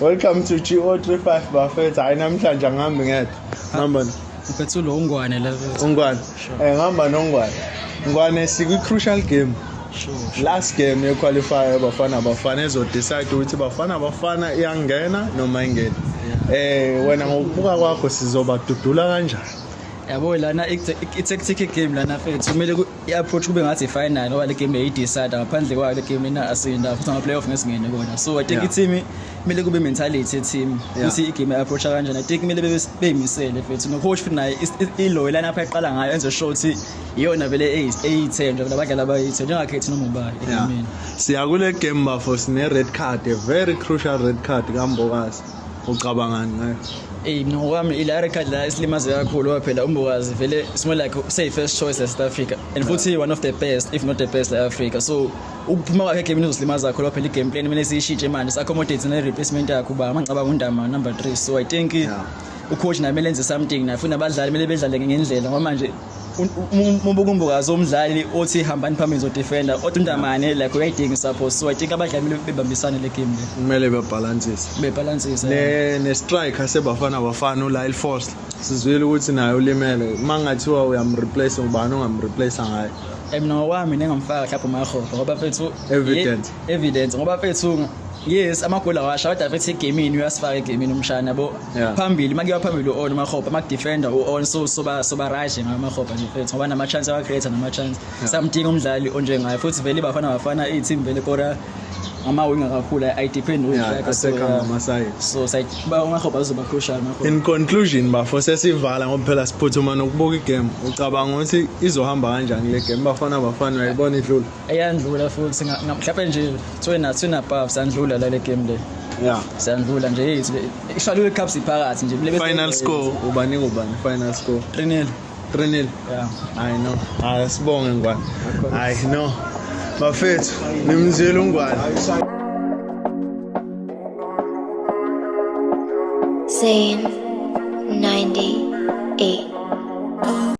Welcome to GO35 bafethu. Hayi namhlanje angihambi ngedwa. Ngihamba no- Uphethe lo ungwane la. ungwane. Eh ngihamba nongwane. Ngwane sikwi crucial game. Sure. Last game ye qualifier bafana bafana ezo decide ukuthi bafana bafana iyangena noma ingena. Eh wena ngokubuka kwakho sizobadudula kanjani? Yabo lana i tactic game lana fethu. Kumele ku- i-approach kube ngathi i-final ngoba le game yayi-decide ngaphandle kwayo le game inasinda futhi ama-playoff ngesingene kona so i think Yeah. i-team kumele kube mentality ye-team Yeah. ukuthi i-game i-approacha kanjani i think kumele bebe- beyimisele futhi no-coach futhi naye is- is- iloyo lana apha eqala ngayo enze sure ukuthi iyona vele eyi- eyi-ten nje vele abadlali abayi-ten njengakhethi noma ubayi Yeah. egameni siya kule game bafo sine-red card a very crucial red card kambokazi ucabangani ngayo eyi mina ngokwami ila record la isilimaze kakhulu ngoba phela umbokazi vele it's more like say first choice south africa and futhi one of the best if not the best la africa so ukuphuma kwakhe egame uzosilimaza kakhulu phela i-game plan kumele siyishintshe manje si-accommodate ne-replacement yakho uba amangcaba ngundama number three so i think yeah. ucoach naye kumele enze something naye futhi nabadlali kumele bedlale ngendlela ngoba manje ubukumbukazi umdlali othi hambani phambili zodefenda odwa undamane like uyayidinga isapho so i think abadlali kumele bebambisane le game le kumele bebhalansise bebhalansise ne ne striker sebafana bafana uLyle Foster sizwile ukuthi naye ulimele mangathiwa uyamreplace ubani ongamreplace ngaye mina ngokwami nengamfaka mhlawumbe umahofa ngoba fethu evidence evidence ngoba fethu yes amagoli awasha kodwa fethu egamini uyasifaka egamini umshana bo Yeah. phambili uma kuyiwa phambili u-on umahopa uma kudefenda u-on so soba soba right ngayo umahopa nje mfethu ngoba nama-chance awa-create nama-chance samdinga umdlali onjengayo futhi vele ibafana bafana iy'team vele kora ngamawinga kakhulu i depend Yeah, wingback, so, asekha yeah. ngama-side. so side ba umahopa uzoba crucial umahopa in conclusion bafo sesivala ngoba phela siphuthuma nokubuka igame ucabanga ukuthi izohamba kanjani le game bafana bafana uyayibona idlula eyandlula futhi mhlawumbe nje kuthiwe nathi sinabhavu sandlula la le game le ya siyandlula nje yethu ishwalule icups iphakathi nje bile final score ubani ubani final score 3-0 3-0 yeah i know hayi sibonge ngwane hayi no bafethu nimzile ungwane Zane 98